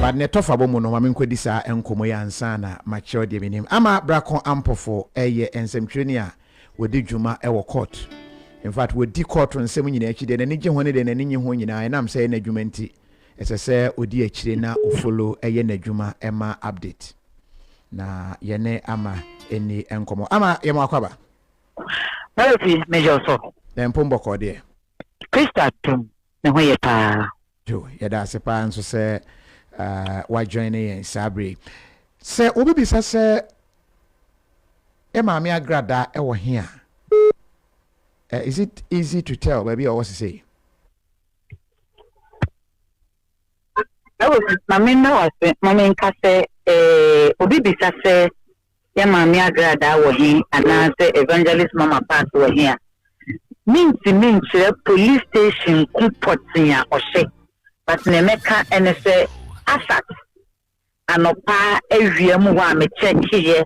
But nea ɛtɔ fabɔ mu no, ma menkɔdi saa nkɔmmɔ yi ansa na makyerɛw deɛ menim. Ama Brako Ampofo yɛ nsɛmtwerɛni a wɔdi dwuma wɔ kɔɔto. In fact, wɔdi kɔɔto nsɛm nyinaa akyi. Deɛ n'ani gye ho ne deɛ n'ani nnye ho nyinaa, ɛnam sɛ ɛyɛ n'adwuma nti, ɛsɛ sɛ ɔdi akyire na ɔfollow yɛ n'adwuma ma update. Na yɛne Ama nni nkɔmmɔ. Ama, yɛma wo akwaba. Mɛresi, megye wo so. Dɛn mpo mbɔkɔɔ deɛ? Christa Twum, Ne ho ye paa. Yo, yɛda ase paa nso sɛ wa joine yɛn saa berɛ yi. Sɛ wobɛbisa sɛ yɛ maame Agrada wɔ he a, is it easy to tell baabi a ɔwɔ sesei? Ɛwɔ, ma memmɛ wo ase, ma menka sɛ, eh, obi bisa sɛ yɛ Maame Agradaa wɔ he anaasɛ Evangelist Mama Parks wɔ he a, mentumi nkyerɛ police station ko pɔtee a ɔhyɛ, but nea mɛka ne sɛ Asat anɔpa awia mu hɔ a me checkeyɛ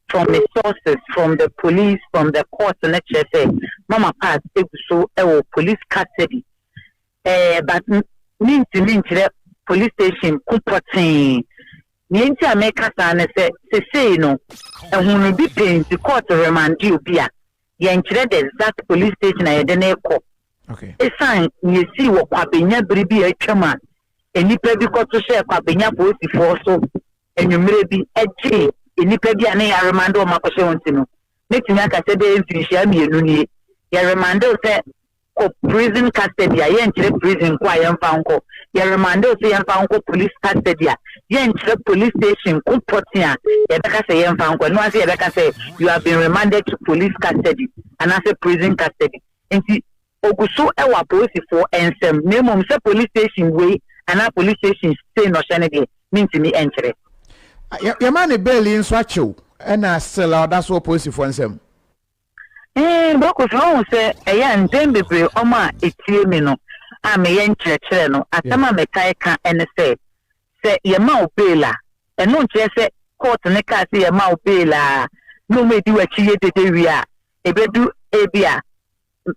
from me sources, from the police, from the court no kyerɛ sɛ Mama Parks egu so wɔ police custody Ɛɛ but mentumi nkyerɛ police station ko pɔtee. Nea nti a meka saa ne sɛ sesei no ɛho no bi pɛ nti court remande obi a, yɛnkyerɛ the exact police station a yɛde no rekɔ. Esiane nea esii wɔ Kwabenya bere bi a atwam a nnipa bi kɔto hyɛɛ Kwabenya apolisifoɔ so anwummere bi gyee nnipa bi a na yɛaremande wɔn akɔhyɛ wɔn nti no, mɛtumi aka sɛ ɛbɛyɛ mfirinhyia mmienu nie, yɛremande wo sɛ kɔ prison custody a yɛnkyerɛ prison nko a yɛmfa nkɔ yɛ remande wo sɛ yɛmfa nkɔ police custody a yɛnkyerɛ police station ko pɔten a yɛbɛka sɛ yɛmfa nkɔ ɛno ase yɛbɛka sɛ you have been remanded to police custody anaasɛ prison custody nti ogu so wɔ apolisifoɔ nsɛm na mmom sɛ police station wei anaa police station sei na ɔhyɛ no deɛ mentumi nkyerɛ yɛma ne bail yi nso akyew ɛna still a ɔda so wɔ polisifoɔ nsɛm Bakofi, woahu sɛ ɛyɛ a mpɛn bebree wɔn a etie me no a meyɛ nkyerɛkyerɛ no, asɛm a metaa ka ne sɛ, sɛ yɛma wo bail a, ɛno nkyerɛ sɛ kɔɔto no kaa sɛ yɛma wo bail a na wɔadi w'akyi yɛ dede wie a, ebedu ebia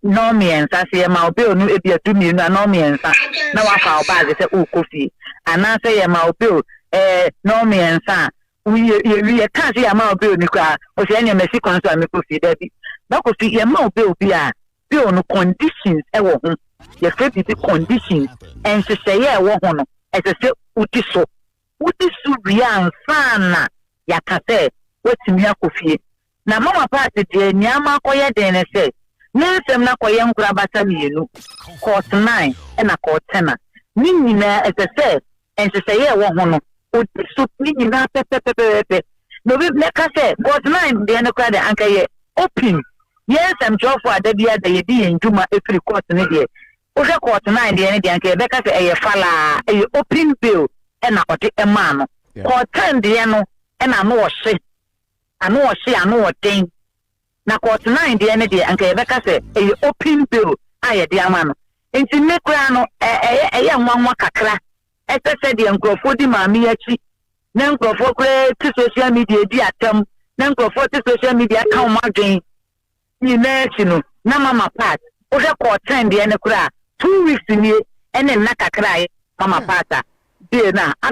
nnɔnmiɛnsa. Sɛ yɛma wo bail no ebia du mmienu a nnɔnmiɛnsa na woafa wo baage sɛ worekɔ fie, anaasɛ yɛma wo bail ɛɛ nnɔnmiɛnsa a Wowie, yɛwie, yɛkaa sɛ yɛama wo bail no koraa, ɔse ɛneɛ masi kwan so a mekɔ fie. Dabi, ba Kofi, yɛma wo bail bi a, bail no conditions wɔ ho, yɛfrɛ biribi conditions, nhyehyɛeɛ a ɛwɔ ho no, ɛsɛ sɛ wodi so. Wodi so wie ansa na yɛaka sɛ woatumi akɔ fie. Na Mama Party deɛ nea ama akɔyɛ den ne sɛ ne nsɛm no akɔyɛ nkorabata mmienu, Court Nine ɛna Court Ten a ne nyinaa ɛsɛ sɛ nhyehyɛeɛ a ɛwɔ ho no ɔdi so ne nyinaa pɛpɛpɛpɛpɛ. Na obi bɛka sɛ Court Nine deɛ no koraa deɛ anka ɛyɛ open, yɛn nsɛmtwerɛfoɔ a da biara da yɛdi yɛn dwuma firi court no deɛ, wohwɛ Court Nine deɛ no deɛ anka yɛbɛka sɛ ɛyɛ falaa, ɛyɛ open bail ɛna ɔde maa no. Court Ten deɛ no ɛna ano ɔhye. Ano ɔhye, ano ɔden. Na court nine deɛ no deɛ anka yɛbɛka sɛ ɛyɛ open bail a yɛde ama no. Nti me koraa no ɛ ɛyɛ ɛyɛ nwanwa kakra sɛ sɛdeɛ nkorɔfoɔ di maame yi akyi na nkorɔfoɔ koraa te social media di atam na nkorɔfoɔ te social media ka wɔn adwen nyinaa akyi no na mama part wohwɛ court ten deɛ no koraa two weeks nie ɛne nna kakra a mama part a deɛ no a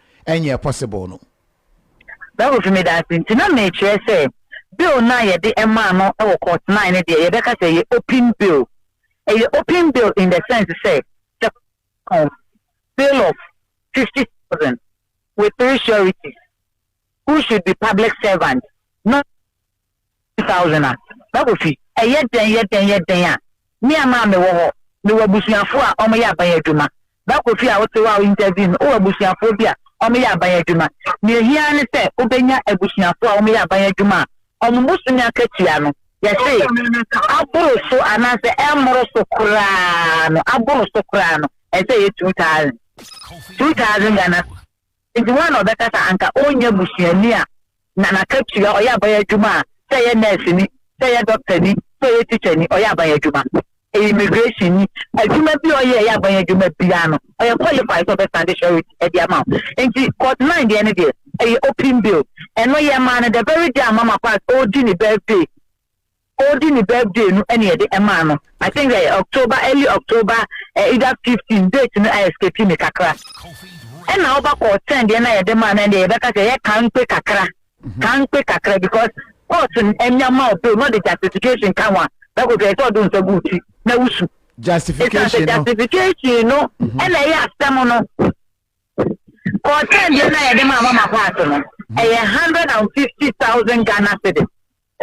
ɛnyɛɛ possible no. Bible fi me danse nti na mekyerɛ sɛ bill no a yɛde maa no wɔ court nine no deɛ yɛbɛka sɛ ɛyɛ open bill. Ɛyɛ open bill in the sense sɛ sɛ court bill of fifty thousand with three sureties who should be public servant not two thousand a, na ofi. Ɛyɛ dɛn yɛ dɛn yɛ dɛn a, me a maa mewɔ hɔ, mewɔ abusuafoɔ a wɔyɛ aban adwuma. Ba Kofi a wote hɔ a wo interview me, wowɔ abusuafoɔ bi a wɔyɛ aban adwuma. Nea ehia ara ne sɛ wobɛnya abusuafoɔ a wɔyɛ aban adwuma a wɔn bosome akatua no, yɛse, aboro so anaasɛ ɛmmoro so koraa no, aboro so koraa no, ɛsɛ ɛyɛ two thousand, two thousand Ghana cedis. Enti hwan na ɔbɛka sɛ anka ɔrennya busuani a na n'akatua ɔyɛ aban adwuma a, sɛ ɛyɛ nɛɛseni, sɛ ɛyɛ dɔktani, sɛ ɛyɛ tikyani, ɔyɛ aban adwuma, ɛyɛ immigration ni, adwuma bi a ɔyɛ a ɛyɛ aban adwuma biara no, ɔyɛ qualify sɛ ɔbɛsan de surety de ama wo. Enti Court Nine deɛ no deɛ, ɛyɛ open bail. Ɛno yɛmaa no the very day a Mama Parks ɔredi ne birthday. Odi ne birthday no na yɛde maa no I think ɛyɛ October early October eh either fifteen date no a escape me kakra ɛna ɔba kɔɔ ten deɛ na yɛde maa no ɛndeɛ yɛbɛka sɛ ɛyɛ kankpe kakra kankpe kakra because court no ɛnya ma ɔpɛ na ɔde justification ka ho a na kɔkɛ sɛ ɔde nsa gu ti na wusu justification no justification no ɛna ɛyɛ asɛm no kɔɔ ten deɛ na yɛde maa mama paati no ɛyɛ hundred and fifty thousand Ghana cedis.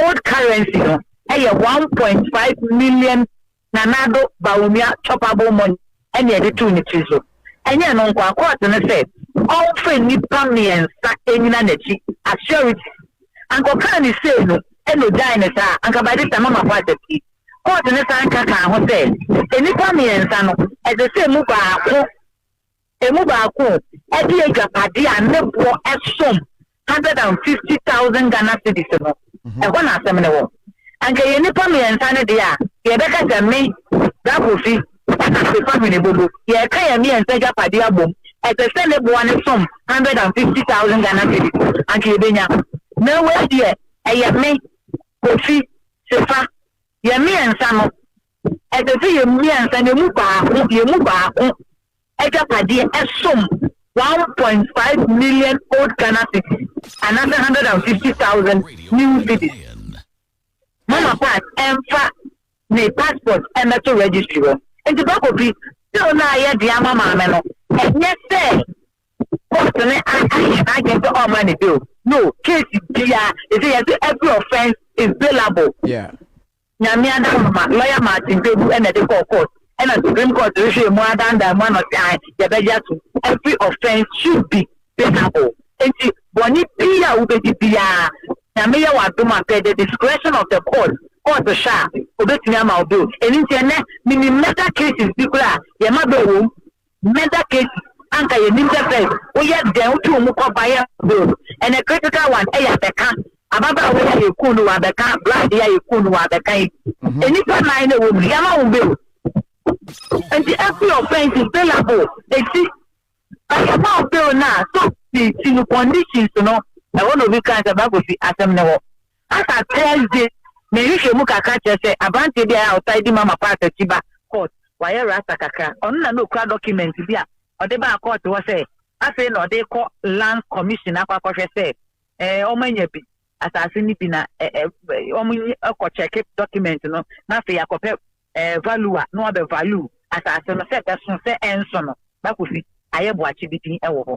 Old currency no yɛ one point five million Nanado Bawumia choppable money na yɛde too ne tiri so. Ɛnyɛ ɛno nko ara, kɔɔte no sɛ ɔmfa nnipa mmiɛnsa nnyina n'akyi as sureties. Anka ɔkaa no sei no na ogyaee no saa a, anka by this time ama abɔ adapue. Kɔɔte no san ka kaa ho sɛ nnipa mmiɛnsa no, ɛsɛ sɛ emu baako. Emu baako de adwapade a ne boɔ som hundred and fifty thousand Ghana cedis no, ɛhɔ na asɛm no wɔ. Anka ɛyɛ nnipa mmiɛnsa no deɛ a, yɛbɛka sɛ me, Bra Kofi, ɛna Asefa Hwene Bobo, yɛka yɛn mmiɛnsa agyapadeɛ abom, ɛsɛ sɛ ne boɔ no som hundred and fifty thousand Ghana cedis, anka yɛbɛnya. Na wei deɛ, ɛyɛ me, Kofi, Sefa, yɛn mmiɛnsa no, ɛsɛ sɛ yɛn mmiɛnsa no, ɛmu baako, yɛn mu baako agyapadeɛ ɛsom one point five million old Ghana cedis anaasɛ hundred and fifty thousand new cedis. Mama Pat ɛmfa ne passport ɛmmɛto registry hɔ. Nti Bakopi, bill no a yɛde ama maame no, ɛnyɛ sɛ court no ayɛ n'adwene sɛ ɔmma ne bill. No, case biara, ɛsɛ yɛse every offence is bailable. Yeah. Nyame adaahoma, lɔya Martin Kpebu na ɛde kɔɔ court ɛna Supreme Court rehwɛɛ mu ara dandaa mu ano se ae yɛbɛgye atom, every offence should be payable, enti bɔne pii a wobɛdi biara Nyame yɛ w'adom a per the discretion of the court, court hwɛ a obɛtumi ama wo bail, ɛno nti ɛnnɛ menim murder cases bi koraa a yɛma bail wɔ mu. Meda Casey anka yɛnim sɛ Fed woyɛ dɛn wotu wo mu kɔ buyer zone ɛnɛ critical one ɛyɛ abɛka ababaawa yi a yɛkuu no wɔ abɛka bride yi a yɛkuu no wɔ abɛka yi mhm. nnipa nan na ɛwɔ mu yɛama wo bill nti every offense is billable ɛsi bayɛma wo bill no a so ti no conditions no ɛhɔ na obi kan sɛ bagosi asɛm ne hɔ Asa Tess de, me nhwehwɛmu kakra kyerɛ sɛ aberanteɛ bi a ɛyɛ a ɔtaa di Mama Pass akyi ba court, wayɛ rasta kakra, ɔno na na ɔkura document bi a ɔde baa court hɔ sɛ afei na ɔde rekɔ Lands Commission akɔ akɔhwɛ sɛ eh, wɔn anya bi, asase no bi na eh, eh, wɔn kɔ check document no na afei akɔpɛ eh, value a, na wɔabɛ value asase no sɛ ɛbɛso sɛ ɛnso no, na kosi ayɛ boakye bi din wɔ hɔ.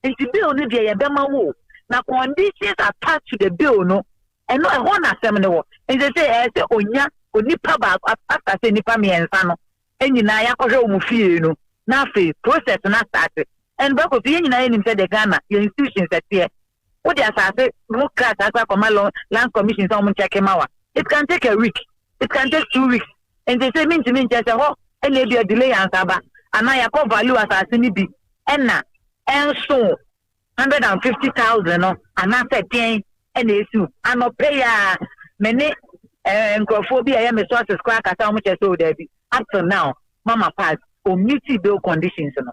Nti bill no deɛ yɛbɛma wo na conditions attached to the bill no ɛno ɛhɔ na asɛm no wɔ. Nti sɛ ɛyɛ sɛ onya onipa baako after sɛ nipa mmiɛnsa no nyinaa yɛakɔhwɛ wɔn fie no na afei process no asase. And baako so yɛn nyinaa yɛnim sɛ the Ghana yɛn institutions ɛteɛ wode asase ho krataa kora kɔma lo lands commission sɛ wɔn nkyɛke ma wa it can take a week it can take two weeks nti sɛ mintumi nkyɛ sɛ hɔ ɛna ebi adile yɛ ansaba anaa yɛkɔ value asase no bi ɛna ɛnso hundred and fifty thousand no anaasɛ deɛn ɛna esi o anɔpɛ yi a me ne ɛɛ eh, nkurɔfoɔ bi a ɛyɛ me sources koraa kasa wɔn kyɛ sɛ o daabi up till now mama pass omiti bail conditions no.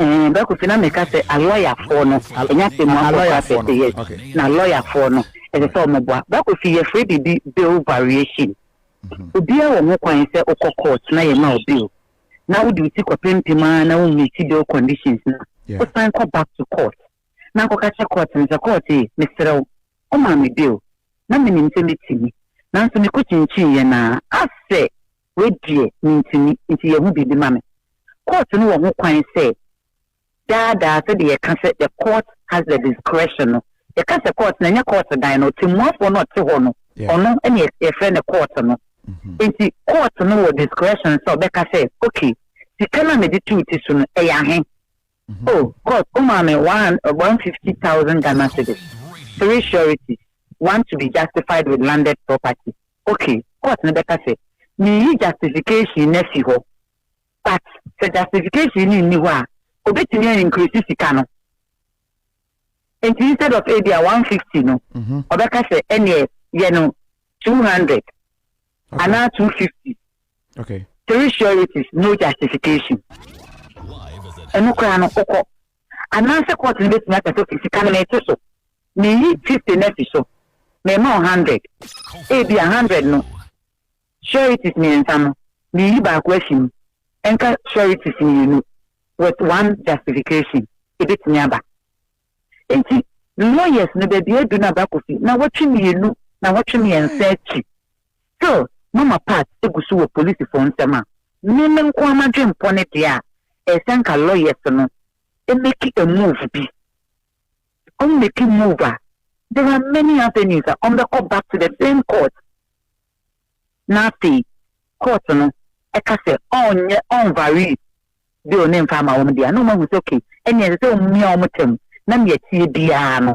Ɛɛ Bra Kofi na meka sɛ alɔyafoɔ no ɛnyɛ atɛmmuafoɔ koraa pɛ sɛ yes na alɔyafoɔ no ɛsɛ sɛ wɔn boa Bra Kofi yɛfrɛ biribi bill variation mhm. obiara wɔ ho kwan sɛ wokɔ court na yɛma wo bill na wode wo ti kɔpempem ara na wommeti bill conditions no wosan kɔ back to court na akɔka kyɛ court no sɛ court yi meserɛ wo ɔmaa me bill na menim sɛ mɛtumi nanso mekɔkyinkyin yɛ naa asɛ Wei deɛ mentumi nti yɛ ho biribi ma me. Court no wɔ ho kwan sɛ daa daa sɛdeɛ yɛka sɛ the court has the discretion no, yɛka sɛ court no ɛnyɛ court dan no, ɔtɛmmuafoɔ no a ɔte hɔ no ɔno ne yɛfrɛ no court no. Nti court no wɔ discretion sɛ ɔbɛka sɛ ok sika no a mede to wo ti so no ɛyɛ ahe? Oh court womaa me one one fifty thousand Ghana cedis, three sureties, one to be justified with landed property, Ok court no bɛka sɛ meyi justification no afi hɔ but sɛ justification no nni hɔ a obetumi a increase sika no nti instead of ebi a 150 no mhm. ɔbɛka sɛ ɛneɛ yɛ no 200 anaa 250 okay. three sureties no justification ɛno koraa no wokɔ Anaasɛ kɔɔto no bɛtumi aka sɛ, Fi sika no mete so, meyi fifty no afi so, mema wo hundred. Ebia hundred no, sureties mmiɛnsa no, meyi baako afi mu, ɛnka sureties mmienu, with one justification. Ɛbɛtumi aba. Enti lawyers no, baabi aduru no, abakofi, nawɔtwe mmienu, nawɔtwe mmiɛnsa akyi, still mama part egu so wɔ polisifo nsɛm a me me nkoaa madwenpɔ ne deɛ a ɛyɛ sɛ nka lawyers no make a move bi ɔmo make move a there are many avenues a ɔmo bɛkɔ back to the same court na afei court no ɛka sɛ ɔnyɛ ɔnvary bill ne nfa ama ɔmo deɛ a na ɔmo ahu sɛ okay ɛnea ɛsɛ sɛ ɔmo mia ɔmo tɛm na nea ɛteɛ biara no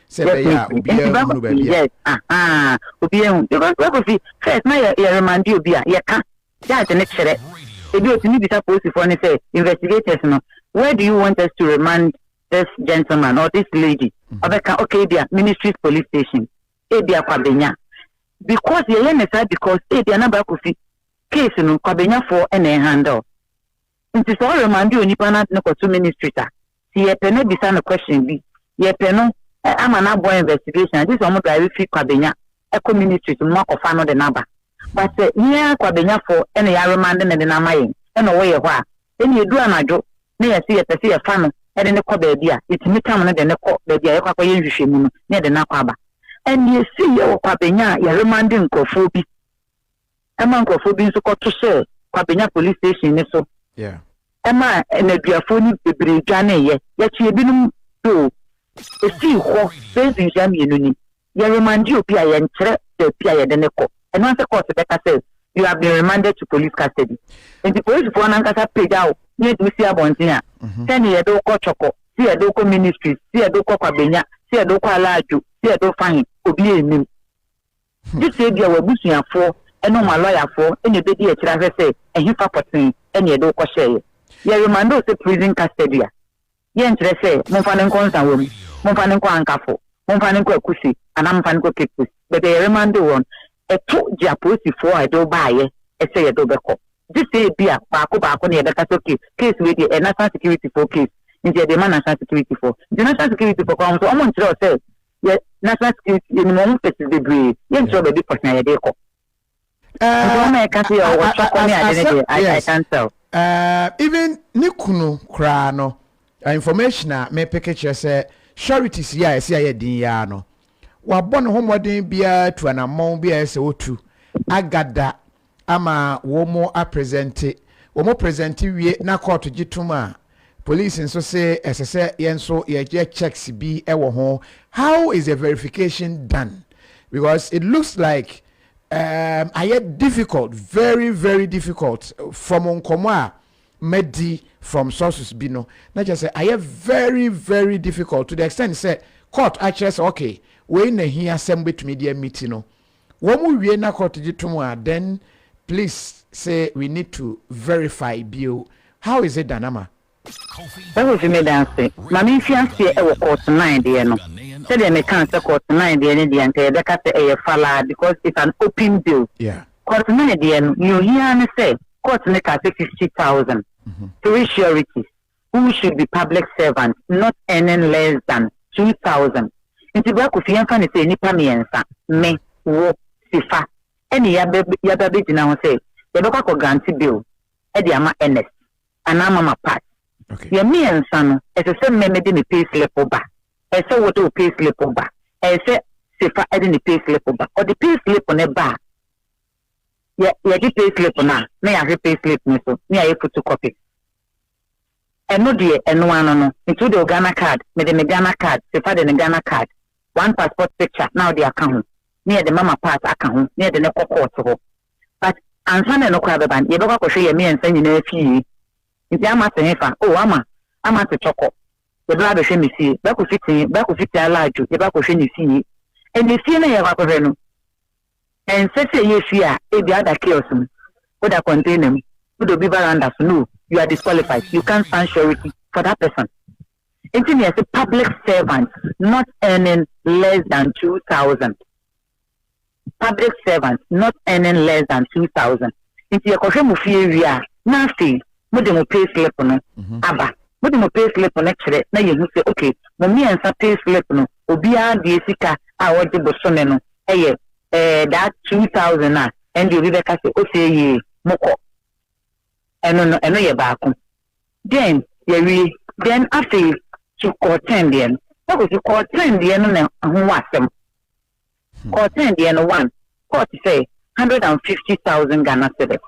Sɛ ɛbɛyɛ a obiara nhunu baabi a. Yes, ahaa, obiara nhunu. Because wɛkɔsi first na yɛ yɛ remande obi a, yɛka, judge no kyerɛ. Ebi otumi bisa polisifoɔ no sɛ, investigators no, where do you want us to remand this gentleman or this lady? Mm-hmm. Ɔbɛka, okay, ebia ministry's police station, ebia Kwabenya. Because yɛyɛ ne saa because ebia na Bakofi case no Kwabenyafoɔ na ɛhandle. Nti sɛ ɔremande onipa no ade no kɔto ministrit a, nti yɛpɛ no abisa no question bi, yɛpɛ no ama no abɔ investigation a, gye sɛ ɔmo drive fi Kwabenya kɔ ministrit mu ma kɔfa no de no aba. But sɛ yɛn ara Kwabenyafoɔ na yɛaremande no de no ama yɛn na ɔwɔ yɛn hɔ a, ɛnneɛ ɛduru anadwo na yɛse yɛpɛ sɛ yɛfa no de no kɔ baabi a, yɛtumi tam no de no kɔ baabi a yɛkɔ akɔyɛ nhwehwɛmu no na yɛde no akɔ aba. And yɛsii yɛ wɔ Kwabenya a yɛremande nkorɔfoɔ bi ɛma nkorɔfoɔ bi nso kɔto hyɛɛ Kwabenya Police Station no so ɛmaa nnaduafoɔ no bebree dwaneeɛ. Yɛkye ebinom nso o. Ɛsii hɔ bɛyɛ mfenhyia mmienu ni. Yɛ remande obi a yɛnkyerɛ baabi a yɛde no kɔ. Ɛno ara sɛ kɔɔte bɛka sɛ you have been remanded to police custody. Nti polisifoɔ no ankasa pagya wo na yɛde wo si abɔnten a, sɛ ne yɛde wo kɔ Twɔkɔ, sɛ yɛde wo kɔ Ministries, sɛ yɛde wo kɔ Kwabenya, sɛ yɛde wo kɔ Alaadwo, sɛ yɛde wo fa he, obiara nnim. gye sɛ ebia w'abusuafoɔ ne wɔn alɔyafoɔ na ɛbɛdi akyire ahwɛ sɛ ɛhefa pɔtee na yɛde wo kɔhyɛeɛ. Yɛremande wo sɛ prison custody a, yɛnkyerɛ sɛ momfa no nkɔ Nsawam, momfa no nkɔ Ankafo, momfa no nkɔ Akuse anaa momfa no nkɔ Cape Coast. Baabi a yɛremande wo no, ɛto gye apolisifoɔ a ɛde wo baeɛ sɛ yɛde wo bɛkɔ. Gye sɛ ebia baako baako na yɛbɛka sɛ okay, case wei deɛ ɛyɛ national securityfoɔ case nti yɛde rema national securityfoɔ. Nti national securityfoɔ koraa wɔn nso wɔnkyerɛ wo sɛ yɛ national security yɛnim wɔn faces bebree yɛnkyerɛ baabi pɔtee a yɛde kɔ nti wɔn a yɛka sɛ yɛ ɔwɔ twakɔ ne ade no deɛ I, I can't tell. Uh, even ne kunu koraa no information a mepeke kyerɛ sɛ sureties yi a ɛsɛ ayɛ den yi ara no wabɔ ne ho mmɔden biara tu anammɔn biara sɛ otu agada ama wɔn apresɛnte. Wɔn presɛnte wie na kɔɔto gye tom a, police nso se ɛsɛ sɛ yɛn nso yɛyɛ checks bi wɔ ho. How is the verification done? Because it looks like um, ayɛ difficult, very very difficult from nkɔmɔ a madi from sources bi no. Na kyerɛ sɛ ayɛ very very difficult to the extent sɛ court akyerɛ sɛ okay, wei na hia sɛ mobɛtumi de amiti no. Wɔn wie na court gye tom a then please say we need to verify bio how is it done ama. Wohu fi me dan ase ma me mfi aseɛ wɔ court nine deɛ no sɛdeɛ me kaa sɛ court nine deɛ no deɛ nka yɛbɛka sɛ ɛyɛ falaa because it's an open bill yeah. Court nine deɛ no nea ohia ara ne sɛ court no kaa sɛ fifty thousand three sureties Who should be public servant not earning less than two thousand nti bra Kofi yɛmfa no sɛ nnipa mmiɛnsa, me, wo, Sifa, ɛne yɛaba yɛaba abɛgyina ho sɛ yɛbɛkɔ akɔ grante bill de ama Ernest anaa Mama Pat. Yɛn mmiɛnsa no ɛsɛ sɛ me mede me pay slip ba, ɛsɛ sɛ wode wo pay slip ba, ɛsɛ sɛ Sifa de ne pay slip ba. Ɔde pay slip no ba a, yɛ yɛgye pay slip no a na yɛahwɛ pay slip no so na yɛayɛ photocopy. Ɛno deɛ ɛno ano no nti wode wo Ghana card mede me Ghana card se fa de ne Ghana card one passport picture na wode aka ho ne yɛde mama pass aka ho ne yɛde no kɔ court hɔ but ansa na ɛno koraa bɛba no yɛbɛkɔ akɔhwɛ yɛn mmiɛnsa nyinaa fie nti ama se hefa oh ama ama se tɔkɔ yɛbɛba abɛhwɛ me fie bɛkɔ fitin bɛkɔ fitin alaadwo yɛbɛkɔhwɛ ne fie ɛne fie na yɛkɔ akɔhwɛ no Ɛnsɛ sɛ ɛyɛ fie a ebia woda kiosk mu, woda container mu, woda obi veranda so, no, you are disqualified, you can't stand surety for that person. Enti na yɛse public servant not earning less than two thousand. Public servant not earning less than two thousand. Enti yɛkɔhwɛ mo fie wie a, na afei mo de mo pay slip no mhm. aba mo de mo pay slip no kyerɛ na yɛhu sɛ ok mo mmiɛnsa pay slip no obiara deɛ sika a ɔgye bosome no yɛ ɛɛ that two thousand a ɛnde obi bɛka sɛ ose yie mo kɔ ɛno no ɛno yɛ baako then yɛwie then afei to kɔɔten deɛ no ɛkɔsi kɔɔten deɛ no na ho wɔ asɛm Kɔɔten deɛ no one kɔɔ te sɛ hundred and fifty thousand Ghana cedis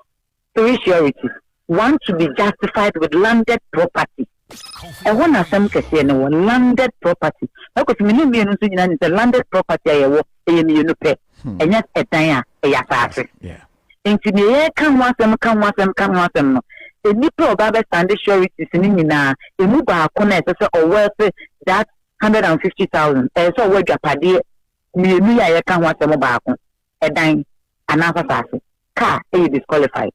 three surety one to be justified with landed property ɛhɔ na asɛm kɛseɛ no wɔ landed property ɛkɔsi me ne mmienu nso nyinaa nim sɛ landed property a yɛwɔ ɛyɛ mmienu pɛ ɛnyɛ ɛdan a ɛyɛ asaase nti deɛ yɛka ho asɛm ka ho asɛm ka ho asɛm no nnipa a ɔba bɛ standard sureties no nyinaa ɛmu baako na ɛsɛ sɛ ɔwɔ ɛsɛ that hundred and fifty thousand, ɛyɛ sɛ ɔwɔ adwapadeɛ mmienu yi a yɛka ho asɛm baako, ɛdan anaa asaase, kaa yɛ disqualified.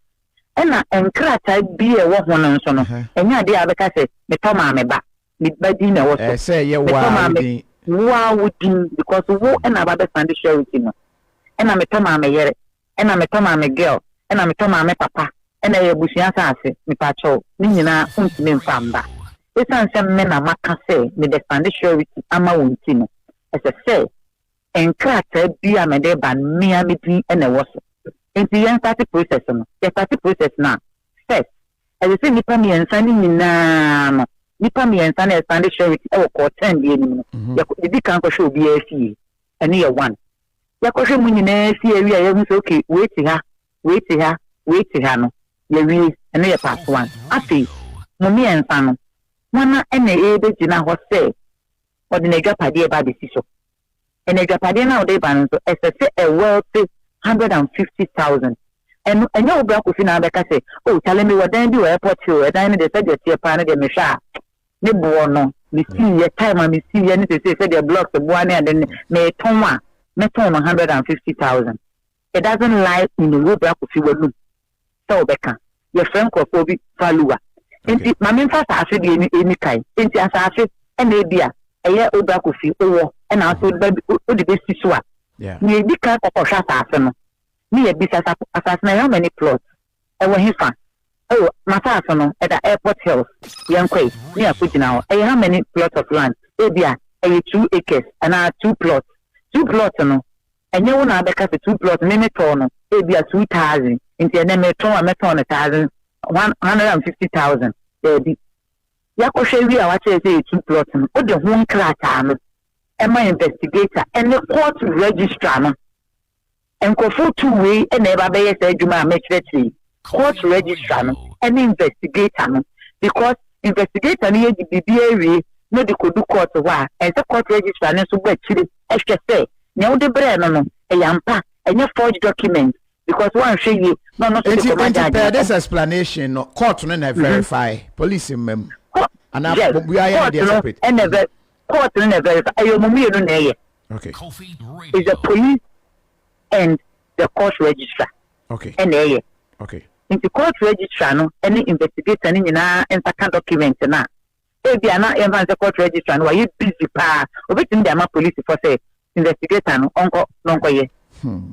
Ɛna nkrataa bi a ɛwɔ ho no nso no, ɛnyɛ adeɛ a wobɛka sɛ metɔ maa me ba, me ba din na ɛwɔ so. Ɛsɛ yɛ wo a wo din. Wo a wo din because wo ɛna aba bɛsan de surety no. Ɛna metɔ maa me yere. ɛna metɔ maa me girl ɛna metɔ maa me papa ɛna ɛyɛ abusua asaase mepakyɛw ne nyinaa ontumi mfa mba ɛsiane sɛ me na maka sɛ me de sande surety ama wo nti no ɛsɛ sɛ nkrataa bi a mede ba no mea me din ɛna ɛwɔ so nti yɛn starte process no yɛ starte process no a first ɛsɛ sɛ nnipa mmiɛnsa no nyinaa no nipa mmiɛnsa na ɛsande surety ɛwɔ kɔɔ tɛn bi anim no mhm. yɛdi kan kɔhwɛ obiara fie ɛne yɛ one yɛakɔhwɛ mu nyinaa si awie a yɛahu sɛ ok, wei te ha, wei te ha, wei te ha no, yɛawie. Ɛno yɛ part one. Afei, mo mmiɛnsa no, hwana na ɛrebɛgyina hɔ sɛ ɔde n'adwapadeɛ ba abɛsi so? Ɛna adwapadeɛ no a wode reba no nso, ɛsɛ sɛ ɛ wealthy hundred and fifty thousand. Ɛno, ɛnyɛ wo bra Kofi na abɛka sɛ, oh, kyale mewɔ dan bi wɔ airport hill, ɛdan no deɛ sɛdeɛ ɛteɛ paa no deɛ mehwɛ a, ne boɔ no mesii yɛ time a mesii yɛ ne sese sɛdeɛ blocks boa ne ade ne metɔn a mɛtɔn no hundred and fifty thousand it doesn't lie in the road baako fi wɔ num sɛ wɔbɛka yɛfrɛ nkurɔfoɔ bi valuwa nti maame nfa asase deɛ ɛni ɛni kan nti asase ɛna ebi a ɛyɛ obra kofi owɔ ɛna nso wode bɛsi so a nea ɛdi kan kɔkɔhwɛ asase no ne yɛbisa asase no ɛyɛ many plots Ɛwɔ hefa? Oh, mataa so no, ɛda Airport Hills. Yɛnkɔe, na yɛakɔgyina hɔ. Ɛyɛ how many plots of land? Ebia ɛyɛ two acres anaa two plots. Two plots no, ɛnyɛ wo na wobɛka sɛ two plots, me metɔɔ no ebia two thousand, nti ɛnnɛ meretɔn a mɛtɔn no thousand, one hundred and fifty thousand. Daabi. Yɛakɔhwɛ awie a wɔakyerɛ yɛn sɛ ɛyɛ two plots no, wode ho nkrataa no ma investigator ne court registrar no. Nkurɔfoɔ tuu wei na ɛba bɛyɛ saa adwuma a mɛkyerɛkyerɛ yi, court registrar no ne investigator no because investigator no yɛ de biribiara awie na ɔde kɔdu court hɔ a, ɛnsɛ court registrar no nso bɔ akyire hwɛ sɛ nea wode brɛɛ no no ɛyɛ ampa, ɛnyɛ forged document because woanhwɛ yie na ɔno nso de kɔma judge no. Nti pɛɛ this explanation no court no na verify, police mma mu? Anaa obiara yɛ ne deɛ separate? Court no na verify, ɛyɛ wɔn mmienu na ɛyɛ. Okay. Kofi Radio. Is the police and the court registrar. Okay. And there, yeah. Okay. In the court registrar, no, any investigator, any, you know, and second document, na. Ebi eh, ana yɛn fan sɛ court registrar no wayɛ busy paa obetumi de ama police fɔ sɛ investigator no ɔnkɔ no ɔnkɔ yɛ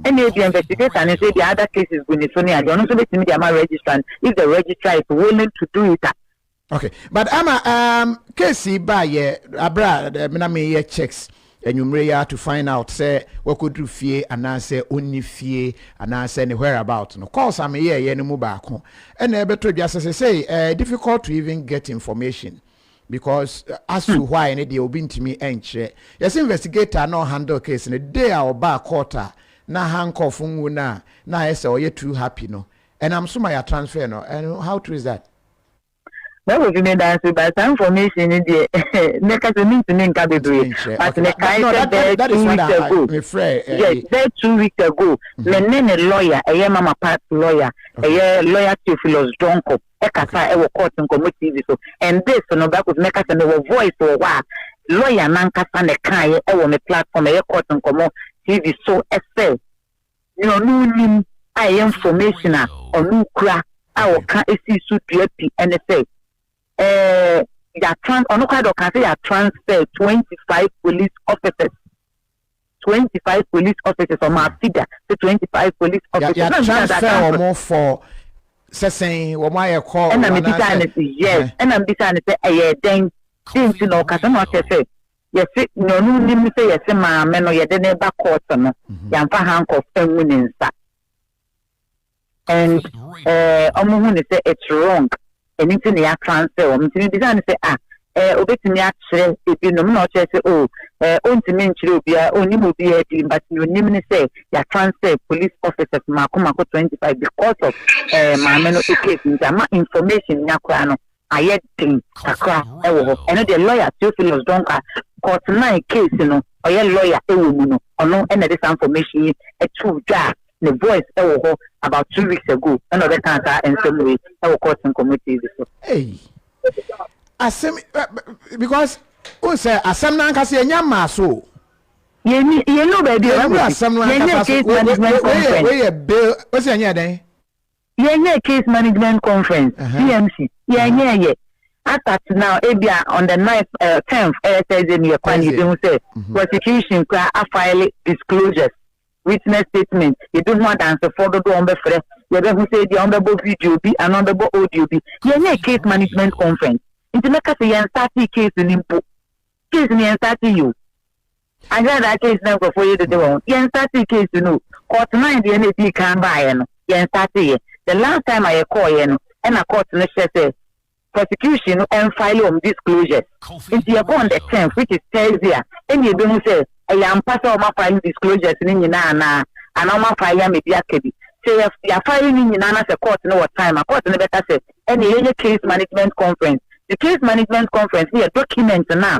ɛna ebi investigator no nso ebi other cases gu ne so ne adeɛ ɔno nso betumi de ama registrar if the registrar is willing to do it a okay but ama um, case yi baa yɛ abere a eh, na meyɛ checks anwummere yi to find out sɛ wakɔduru fie anaasɛ ɔnni fie anaasɛ ne whereabout no calls a meyɛɛyɛ no mu baako ɛna ɛbɛtɔ dwa sɛ sɛsɛi eh, difficult to even get information because eh, as to hmm. why ne deɛ obi ntumi nkyerɛ yɛsɛ investigator na ɔhandle case no day a ɔbaa court a na ha nkɔfo nwu no a na ayɛ sɛ ɔyɛ too happy no ɛnam so ma yɛatransfer no and how true is that Bible fi mi danse ba saa information ni deɛ mɛka sɛ mintumi nka bebree but mekae sɛ bɛɛ two weeks ago yes bɛɛ two weeks ago me ne ne lawyer ɛyɛ mama part lawyer ɛyɛ lawyer Theophilus Donko ɛkasa ɛwɔ court nkɔmɔ tv so and this no Bible fi mɛka sɛ mewɔ voice wɔ hɔ a lawyer nankasa ne kaeɛ ɛwɔ me platform ɛyɛ court nkɔmɔ tv so ɛsɛ Nea ɔno nnim a ɛyɛ information a ɔno kura a ɔka sii so dua pi ne sɛ, eh, yɛatran, ɔno koraa deɛ ɔka sɛ yɛatransfer 25 police officers 25 police officers ɔmo afida sɛ 25 police officers. yà transfer wɔn fɔ sɛsɛn wɔn ayɛ kɔ wɔn anaasɛ. ɛna mbisa ne sɛ ɛyɛ dɛn de nti na ɔkasa na ɔkyɛ sɛ Yɛse nea ɔno nnim sɛ yɛse maame no yɛde no ba court no yɛamfa handcuff angu ne nsa and eh, wɔn hu ne sɛ it's wrong ɛno nti na yɛatransfer wɔn nti mebisa no sɛ ah eh, obetumi akyerɛ ebinom na ɔkyerɛ sɛ oh eh, ontumi nkyerɛ obiara onim obiara di but nea onim ne sɛ yɛatransfer police officers mako mako 25 because of eh, maame no case nti ama information nya koraa no ayɛ den kakra wɔ hɔ. Ɛno deɛ lawyer Theophilus Donkwa, court nine case no ɔyɛ lawyer wɔ mu no, ɔno na ɛde saa information yi too dwa a ne voice wɔ hɔ about two weeks ago, ɛna ɔbɛkaa saa nsɛm wei wɔ Court Nkɔmmɔ TV so. Ei! Asɛm, because wohu sɛ asɛm no ankasa yɛnya mmaa so o. Yɛni, yɛnu baabi a ɛwɔ mu. Yɛnyɛ asɛm no ankasa so, wei yɛ bail, wosɛ yɛnyɛ dɛn? Yɛnyɛɛ Case Management Conference, CMC, yɛnyɛɛ yɛ. As at now, ebia on the ninth, eh, tenth, ɛyɛ Thursday no, yɛkɔ a na yɛbɛhu sɛ mhm. prosecution kura afile disclosures, witness statement, yɛde ho adansefoɔ dodoɔ wɔn bɛfrɛ, yɛbɛhu sɛ ebia wɔn bɛbɔ video bi anaa wɔn bɛbɔ audio bi. Yɛnyɛɛ Case Management Conference, nti mɛka sɛ yɛn startee case no mpo. Case no yɛn startee yi o. Agradaa case na nkurɔfoɔ yɛ dede wɔ ho. Yɛn startee case no o. Court nine deɛ na edii kan baeɛ no, yɛn startee yɛ. The last time a yɛkɔɔeɛ no, ɛna court no hyɛ sɛ prosecution no mfile wɔn disclosures. Nti yɛkɔ on the tenth, which is Thursday a, ɛna yɛbɛhu sɛ ɛyɛ ampa sɛ wɔafile disclosures no nyinaa anaa, anaa wɔafile ama bi aka bi. Sɛ yɛ, yɛafile ne nyinaa na sɛ court no wɔ time a, court no bɛka sɛ ɛnneɛ yɛnyɛ case management conference. The case management conference no yɛ document no a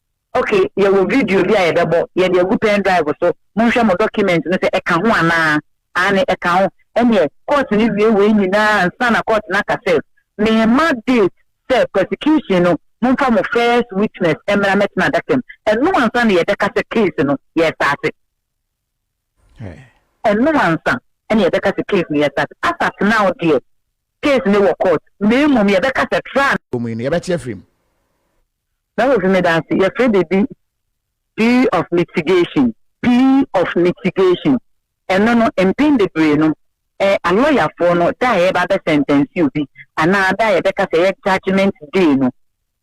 Ok, yɛwɔ video bi a yɛbɛbɔ, yɛde agu pen drive so, monhwɛ mo document no sɛ ɛka ho anaa, aane ɛka ho, ɛneɛ court no wie wei nyinaa ansa na court no aka sɛ memma date sɛ prosecution no momfa mo first witness mmra mɛtena adaka mu, ɛno ansa na yɛbɛka sɛ case no yɛstate, ɛno ansa na yɛbɛka sɛ case no yɛstate, as at now deɛ case no wɔ court na mmom yɛbɛka sɛ trial. Wɔ mu yi no yɛbɛte afiri mu. Na wofi me dan ase. Yɛfrɛ biribi plea of mitigation. Plea of mitigation. Ɛno no, mpɛn bebree no, eh, alɔyafoɔ no, da a yɛba abɛsɛntɛnse obi, anaa da a yɛbɛka sɛ ɛyɛ judgement day no,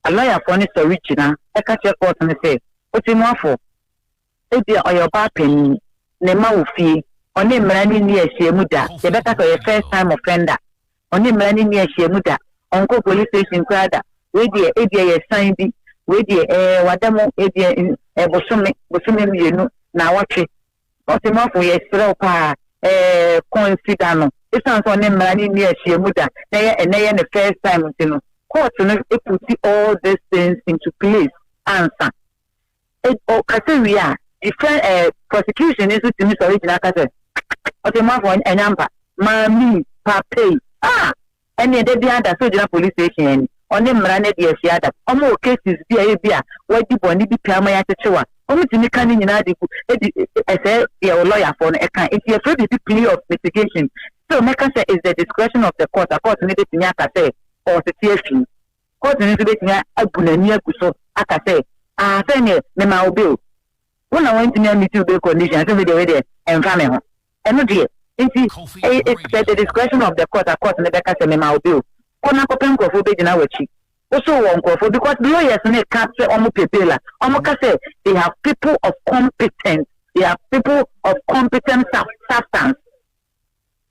alɔyafoɔ no sɔre gyina ka kyerɛ kɔɔto no sɛ, Otemmuafoɔ, Ebia ɔyɛ ɔbaa panyin, ne mma wɔ fie, ɔne mmara no nni ahyiam da. Yɛbɛka sɛ ɔyɛ first time offender. Ɔne mmara no nni ahyiam da. Ɔnkɔ police station koraa da. Wei deɛ ebia ɛyɛ san bi. Wei deɛ ɛɛ wada mu ebia ɛɛ bosome, bosome mmienu, naawɔtwe. Ɔtemmafo, yɛsrɛ wo paa, ɛɛ consider no. Esiane sɛ ɔne mmara no nni ahyiam da, na ɛyɛ ɛnnɛ yɛ ne first time nti no, court no puti all these things into place ansa. ɔkasa wie a defence ɛɛ prosecution no nso tumi sɔre gyina ka sɛ ɔtɛmmuafo ɛnyɛ ampa maame yi papa yi a ɛne ɛda bi ada so gyina police station ani ɔne mmara no adi ahyia da wɔn wɔ cases bi a ebi a wɔadi bɔne bi pɛ ama yɛakyekyew a wɔn tumi ka ne nyinaa de gu edi ɛsɛ deɛ ɔlɔyafoɔ no ɛka nti yɛfrɛ biribi plea of mitigation so mɛka sɛ is the discretion of the court a court no betumi aka sɛ ɔsete afi Kɔɔto no nso betumi abu n'ani agu so aka sɛ, Ah, sɛ neɛ memaa wo bail, wo na wantumi ammiti wo bail condition, sɛ wedeɛ wedeɛ ɛmfa me ho. Ɛno deɛ, nti ɛyɛ it's at the discretion of the court a court no bɛka sɛ memaa wo bail, kɔ na kɔpɛ nkorɔfoɔ bɛgyina w'akyi. Wosoo wɔ nkorɔfoɔ because lawyers no reka sɛ wɔn pɛ bail a, wɔn ka sɛ they have people of competent, they have people of competent substance.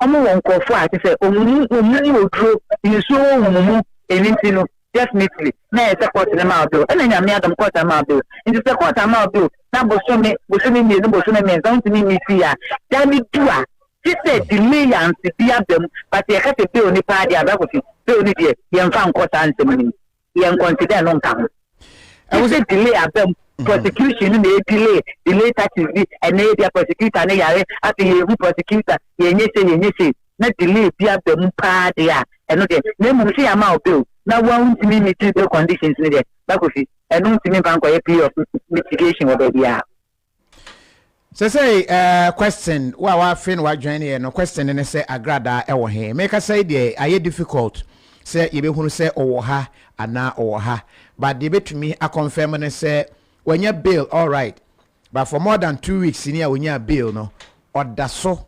ɔmo wɔ nkorɔfoɔ a kyesɛ ɔmo mu ɔmo mu oduro nsuo wɔ ɔmo mu ɛno nti no definitely na ɛyɛ sɛ court no ma bail ɛna nyame adom court ama bail nti sɛ court ama bail na bosome bosome mmienu bosome mmiɛnsa wontumi nyi fie a da no du a kyesɛ delay anse bi aba mu but yɛka sɛ bail ne paa deɛ abrabɔ fi bail ne deɛ yɛmfa nkɔ saa nsɛm no mu. yɛ nkɔnte dɛ no nka ho ɛwɔ sɛ delay abam mhm. prosecution no na yɛ delay delay taxes bi ɛnna yɛ bia prosecutor no yare afei yɛ ehu prosecutor yɛ nye se yɛ nye se na delay bi aba mu paa deɛ a ɛno deɛ na mmom sɛ yɛama wo bill na wɔn ntumi meet the conditions no deɛ bakofi ɛno ntumi mfa nkɔyɛ plea of mitigation wɔ baabi a. Sɛ sɛ eh, question wo a w'afe na w'adwɛn yɛ no question no ne sɛ agradaa ɛwɔ he? Mekasa yi deɛ ayɛ difficult sɛ yɛbɛhunu sɛ ɔwɔ ha anaa ɔwɔ ha but deɛ bɛtumi akɔnfɛm ne sɛ wanya bail alright but for more than two weeks ni a ɔnyaa bail no ɔdaso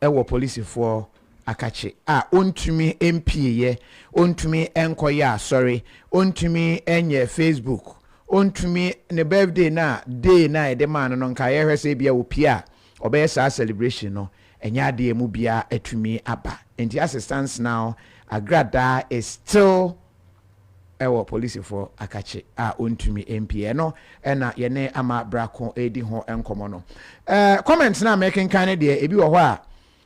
wɔ polisifoɔ akakye a ɔntumi mpieeɛ, ɔntumi nkɔyɛ asɔre, ɔntumi nyɛ Facebook, ɔntumi ne birthday no a day no a yɛde maa no no nka yɛhwɛ sɛ ebia ɔpie a ɔbɛyɛ saa celebration no ɛnyɛ adeɛ a ɛmu biara atumi aba. Nti Ase Stansenao Agradaa is still wɔ polisifoɔ akakye a ɔntumi mpie no na yɛne ama brako redi ho nkɔmɔ no eh, comments no a mekenkan no deɛ ebi wɔ hɔ a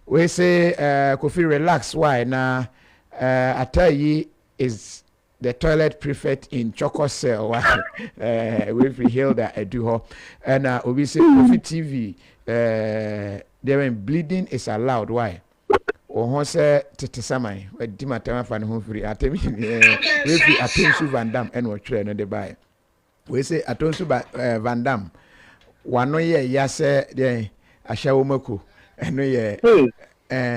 wei se eh, Kofi relax why na eh, ataa yi is the toilet prefect in chɔkɔ cell wa eh, wei firi Hilda adu hɔ ɛna obi se Kofi TV eh, deɛ bɛn bleeding is allowed why Wo ho sɛ tete saman. Wadi m'atɛm afa ne ho firi atɛm hini Wei firi Atonsu Van Dam ɛna ɔtwerɛ no de baeɛ Wei se Atonsu ba, eh, Van Dam W'ano yɛ ya sɛ deɛn ahyɛwo mako Ɛno yɛ, eh,